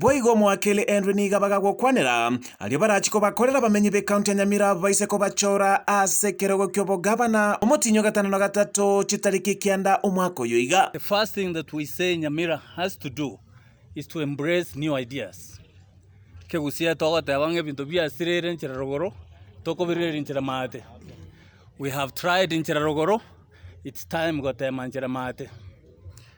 Boigo moakeire endwe niga bagagokwanera. Aria barachie kobakorera abamenyi b'ecounty ya Nyamira abwo baise kobachora ase ekerogo ki'obogavana omotienyi o gatano na gatato chitariki ekianda omwaka oyo iga.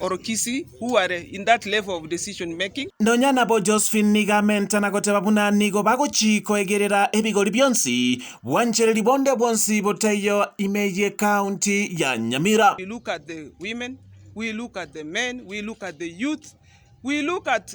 or Kisii who are in that level of decision making. Nonya nabo Josephine nigo amentana goteba buna nigo bagochii koegerera ebigori bionsi bwanchereri bonde bwonsi botaiyo ime ye county ya Nyamira. We look at the women, we look at the men, we look at the youth, we look at